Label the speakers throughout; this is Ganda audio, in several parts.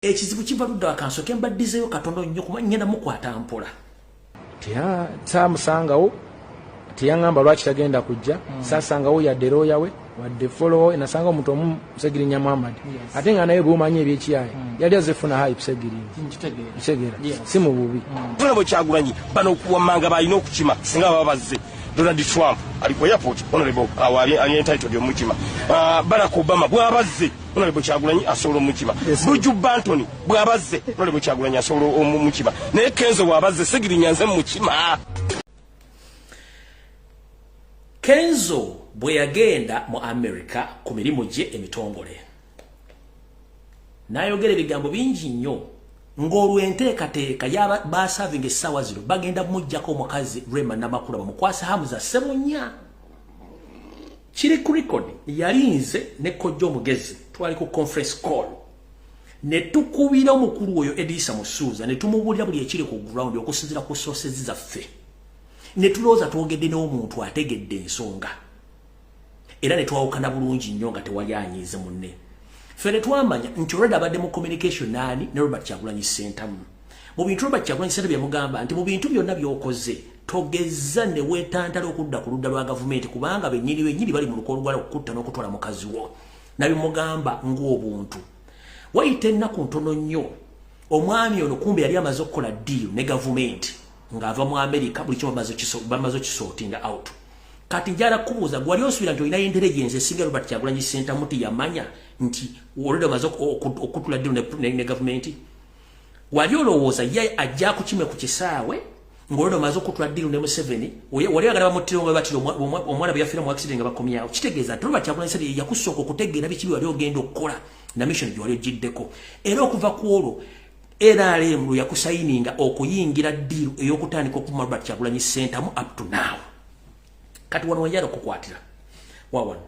Speaker 1: ekizibu kiva ludda wakansoke mbaddizeyo katono nnyo kuba ngenda mukwata mpola samusangawo
Speaker 2: teyaŋamba lwaki tagenda kujja mm. sasangawo yadde looya we wadde folowo nasanga omuntu omu segirinya muhammad ate nga naye bwomanyi ebyekiyaye mm. yali azefuna hayi segirinykitegera si mu bubi mm. bona bwekyagulanyi
Speaker 3: bano okuwamanga balina okukima singa baba bazze donald trump ali ku airport honorable awo ali entitled omukima ah, barack obama bwabazze Honorable Kyagulanyi asobola omukiba Buju Bantoni bwabazze Honorable Kyagulanyi asobola omukiba naye Kenzo bwabazze Segirinya nze mukima
Speaker 1: Kenzo bwe yagenda mu America ku mirimu gye emitongole n'ayogera ebigambo bingi nnyo ng'olwo enteekateeka yabasaavinga essaawa zino bagenda mujjako omukazi Rema Namakula bamukwase Hamza Ssebunya kiri ku record yali nze ne kojja omugezi twali ku conference call ne tukubira omukulu oyo edisa musuuza ne tumubulira buli ekiri ku ground okusinzira ku sources zaffe ne tulooza twogedde n'omuntu ategedde ensonga era ne twawukana bulungi nnyo nga tewali anyiize munne ffe ne twamanya nti olwedda abadde mu communication naani ne robert kyagulanyi sentamu mu bintu Robert Kyagulanyi Ssentamu yamugamba nti mu bintu byonna by'okoze togezza ne weetantala okudda ku ludda lwa gavumenti kubanga bennyini bennyini bali mu luko olugala okukutta n'okutwala mukazi wo nabimugamba ng'obuntu wayita ennaku ntono nnyo omwami ono kumbe yali amaze okukola ddiiru ne gavumenti ng'ava mu amerika buli kimu bamaze okisootinga out kati njala kubuuza gwali osuubira nti olinayo intelligence esinga robert kyagulanyi ssentamu ti yamanya nti olode omaze okutula ddiiru ne gavumenti wali olowooza ye ajja kukime ku kisaawe ngolwono maze okutula diru ne museveni wali agala bamuttira omwe batira omwana bwe yafiira mu accident nga bakomyawo kitegeeza nti olwa kyakulani sebe yakusooka okutegeera biki wali ogenda okukola na mission gye wali ogiddeko era okuva ku olwo nrm lwe yakusayininga okuyingira diru ey'okutandika okuma robert kyagulanyi sentamu up to now kati wano wenjala okukwatira wawano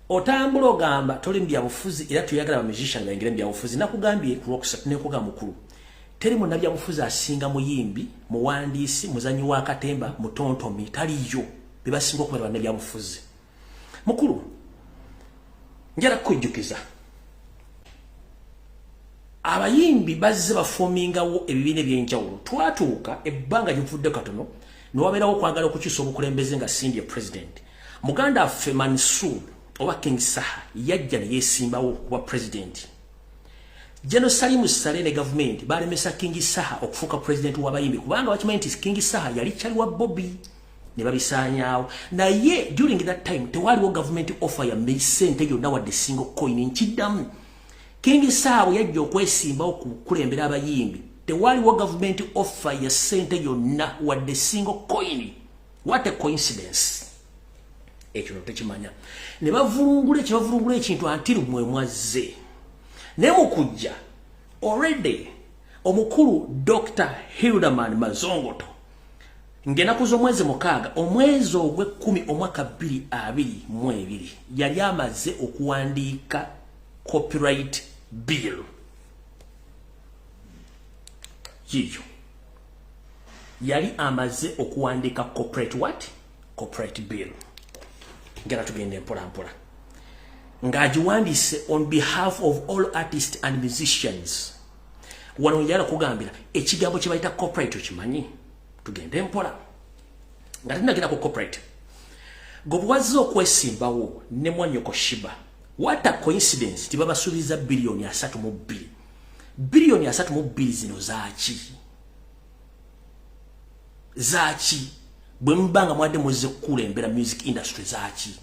Speaker 1: otambula ogamba toli mubyabufuzi era tuyagala bamizisha nga engere mubyabufuzi nakugambye kulwokusat nekuga mukulu teri munabyabufuzi asinga muyimbi muwandiisi muzanyi wa katemba mutontomi taliyo bebasinga okumera banabyabufuzi mukulu njala kukujjukiza abayimbi bazze bafomingawo ebibiina ebyenjawulo twatuuka ebbanga gyovudde katono newabeerawo okwagala okukyusa obukulembeze nga cindy president muganda affe mansur oba king saha yajja neyesimbawo kuba president jeno salimu sale ne gavumenti balemesa king saha okufuuka president wabayimbi kubanga bakimanyi nti king saha yali kyali wa bobi ne babisaanyaawo naye during that time tewaaliwo gavumenti offer ya sente yonna wadde single coin nkiddamu King Saabu yajja okwesimbawo ku kulembera abayimbi. Tewaliwo government offer ya sente yonna wadde single coin. What a coincidence. Ekyo no tekimanya. Ne bavulungula ekyo bavulungula ekintu until mwe mwazze. Ne mukujja already omukulu Dr. Hilderman Mazongoto Ngenaku z'omwezi mukaaga omwezi ogw'ekkumi omwaka bbiri abiri mu ebiri yali amaze okuwandiika copyright bill yiyo yali amaze okuwandiika corporate what corporate bill ngera tugenda empolampola ng'agiwandiise on behalf of all artists and musicians wano yala kugambira ekigambo kye bayita corporate okimanyi tugende mpola nga tinagenda ku corporate gobwazze okwesimbawo ne mwanyoko shiba what a coincidence nti babasuubiza biliyoni asatu mu bbiri biliyoni asatu mu bbiri zino zaaki zaaki bwe muba nga mwadde muzze kukula embeera music industry zaaki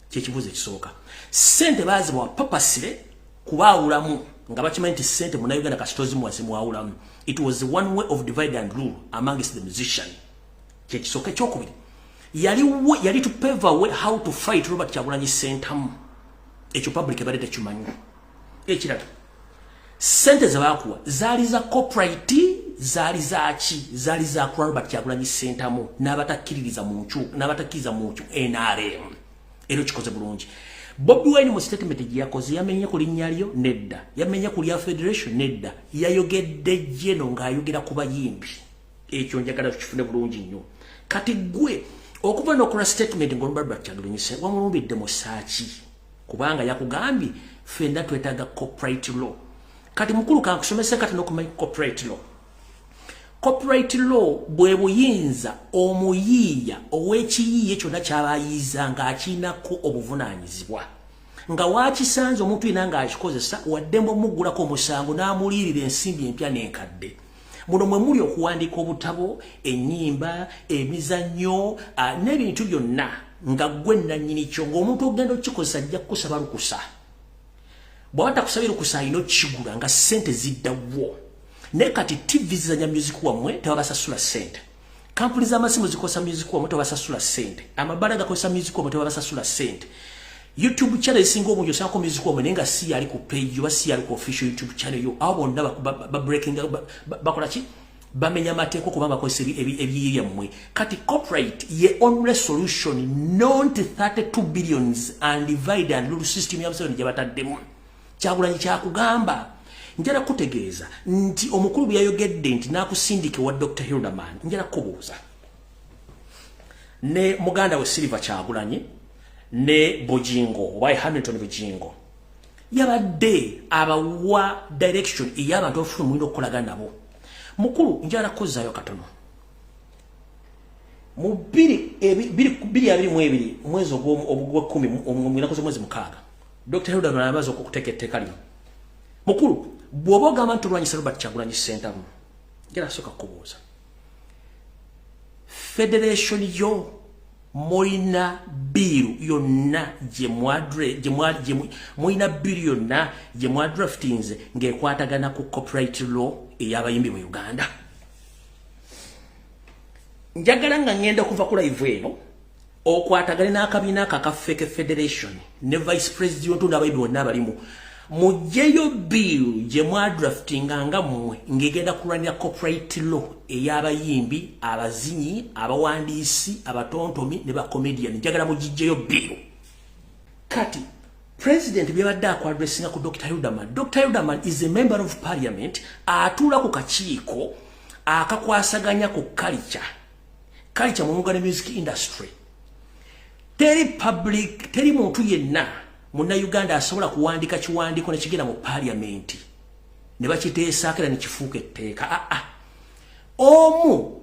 Speaker 1: kyekibuuzo ekisooka sente baazibawa papasire kubaawulamu nga bakimanyi nti sente munauganda kasitozimuwase mwawulamu it was one way of divide and rule amongst the musician kyekisooka ekyokubiri yali yali to pave away how to fight robert kyagulanyi sentamu ekyo public ebadde tekimanyi ekirala sente zebakuwa zaali za coprit zaali zaki zaali zakula robert kyagulanyi sentamu n'abatakkiririza mu ncu n'abatakkiriza mu ncu nrm era okikoze bulungi bobi wine mu statement gye yakoze yamenye ku linnya lyo nedda yamenye ku lya federation nedda yayogedde jeno ng'ayogera ku bayimbi ekyo njagala tukifune bulungi nnyo kati gwe okuva nokola statement ngolubarbakyadulinyise wamulumbidde musaaki kubanga yakugambye fenna twetaaga corporate law kati mukulu kankusomese kati nokumanyi corporate law copyright law bwe buyinza omuyiiya ow'ekiyiiye kyonna kyaba ayiiza ng'akiinako obuvunaanyizibwa nga waakisanze omuntu yena ng'akikozesa waddemu omuggulako omusango n'amuliirira ensimbi empya n'enkadde muno mwe muli okuwandiika obutabo ennyimba emizannyo n'ebintu byonna nga ggwe nnannyini kyo ng'omuntu okugenda okukikozesa ajja kukusaba lukusa bwaba takusabye lukusa alina okukigula nga sente ziddawo naye kati tv zizanya music wammwe tebabasasula sente kampuni z'amasimu zikozesa music wammwe tebabasasula sente amabala gakozesa music wammwe tebabasasula sente youtube channel esinga obungi osangako music wammwe naye nga si yali ku page oba si yali ku official youtube channel yo abo bonna babreaking bakola ki bamenya amateeka okuba bakozesa ebiyiye byammwe kati copyright ye only solution not 32 billions and divide and rule system ya museveni gye bataddemu kyagulanyi kyakugamba njala kutegeeza nti omukulu bwe yayogedde nti nakusindika wa dr hilderman njala kubuuza ne muganda we silver kyagulanyi ne bujingo oba hamilton bujingo yabadde abawa direction ey'abantu abafuna omulina okukolagana nabo mukulu njala kuzayo katono mu biri ebi biri biri abiri mu ebiri mwezi ogwo ogwo kumi omwira koze mwezi mukaaga dr hilda nalabaza okuteka etteka lino mukulu bwoba ogamba nti olwanyisa robert kyagulanyi sentamu njala soka kubuuza federation yo mulina biiru yonna mulina biiru yonna gye mwadraftinze ng'ekwatagana ku copyright law ey'abayimbi mu uganda njagala nga ngenda kuva ku live eno okwatagane n'akabiina ako akafeke federation ne vice president n'abayimbi bonna abalimu mujjeyo bill gye mwadraftinga nga mmwe ng'egenda kulwanira copyright law ey'abayimbi abazinyi abawandiisi abatontomi ne bacomedian njagala mugijjeyo bill kati president byabadde akwadressinga ku dr udaman dr udaman is a member of parliament atuula ku kakiiko akakwasaganya ku culture culture mu mugane music industry teri public teri muntu yenna munnayuganda asobola kuwandika kiwandiiko ne kigenda mu paaliyamenti ne bakiteesaako era ne kifuuka etteeka aa ah, ah. omu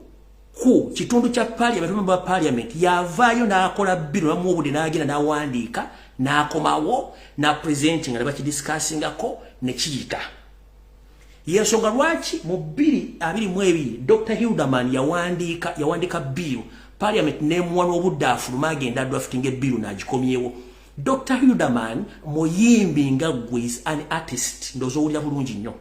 Speaker 1: ku kitundu kya paaliyamenti omumba wa paaliyamenti yavaayo n'akola bbiri obamu obudde n'agenda n'awandiika n'akomawo n'apurezenti nga ne bakidisikasingako ne kiyita yensonga lwaki mu bbiri abiri mu ebiri dr hilderman yawandiika yawandiika bbiiru paaliyamenti n'emuwa n'obudde afuluma agenda adwafitinga ebbiiru n'agikomyewo Dr. Hilderman muyimbi nga gwe is an artist ndozo owulira bulungi nnyo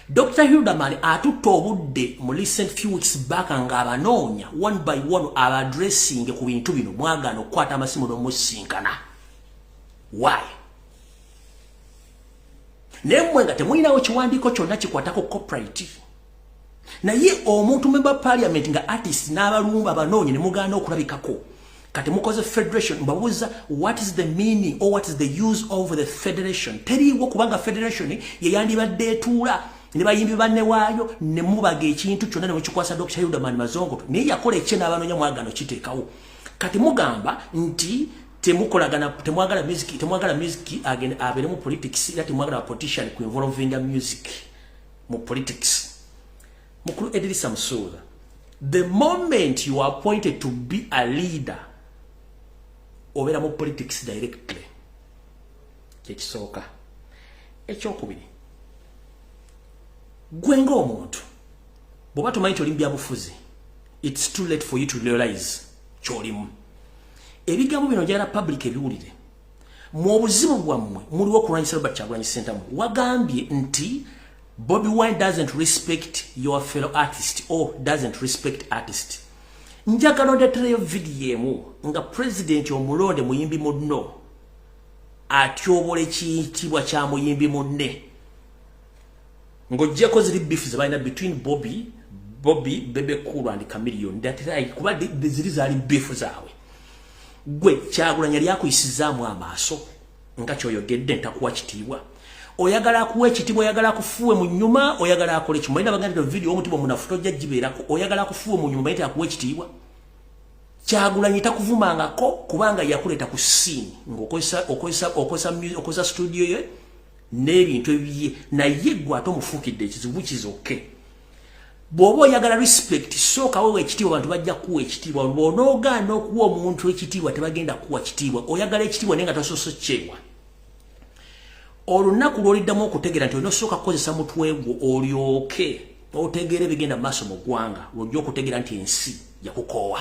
Speaker 1: Dr. Hilderman atutte obudde mu recent few weeks back nga abanoonya one by one aba addressing ku bintu bino mwagaana okukwata amasimu n'omusinkana why naye mmwe nga temulinawo kiwandiiko kyonna kikwatako coprit naye omuntu member parliament nga artist n'abalumba banoonye ne mugaana okulabikako kati mukoze federation mbabuuza what is the meaning or what is the use of the federation teriiwo kubanga federation yeyandibadde etuula ne bayimbi banne waayo ne mubaga ekintu kyonna ne mukikwasa dr yudaman mazongoto naye yakola ekye n'abanoonya mwagano kiteekawo kati mugamba nti temukolagana temwagala music temwagala music agenda abere mu politics ila temwagala politician ku involving music mu politics mukulu Edrisa Musuuza the moment you are appointed to be a leader obera mu politics directly kyekisooka ekyokubiri gwe ng'omuntu bw'oba tomanyi nti oli mu byabufuzi it's too late for you to realize kyolimu ebigambo bino njagala public ebiwulire mu obuzibu bwammwe muliwo okulwanyisa robert kyagulanyi sentamu wagambye nti bobi wine doesn't respect your fellow artist or doesn't respect artist njagala ondetereyo vidiyo emu nga pulezidenti omulonde muyimbi munno atyobola ekiyitibwa kya muyimbi munne ng'ogyeko ziri bifu ze balina between bobi bobi bebe kulu and camilion ndatirayi kuba ziri zaali bifu zaabwe gwe kyagulanyi yali akuyisizaamu amaaso nga kyoyogedde ntakuwa kitiibwa oyagala akuwa ekitiibwa oyagala akufuwe mu nyuma oyagala akole kimu balina baganda video omutima omunafu tojja gibeerako oyagala akufuwe mu nyuma mayite akuwa ekitiibwa kyagulanyi takuvumangako kubanga yakuleeta ku siini ngaokozesa studio ye n'ebintu ebiye naye gwe ate omufuukidde ekizibu kizoke bw'oba oyagala respect sooka wewa ekitiibwa bantu bajja kuwa ekitiibwa bw'onoogaana okuwa omuntu ekitiibwa tebagenda kuwa kitiibwa oyagala ekitiibwa naye nga tosoose kyewa olunaku lw'oliddamu okutegeera nti olina osooka kukozesa mutwe gwo olyoke otegeera ebigenda mu maaso mu ggwanga lwojja okutegeera nti ensi yakukoowa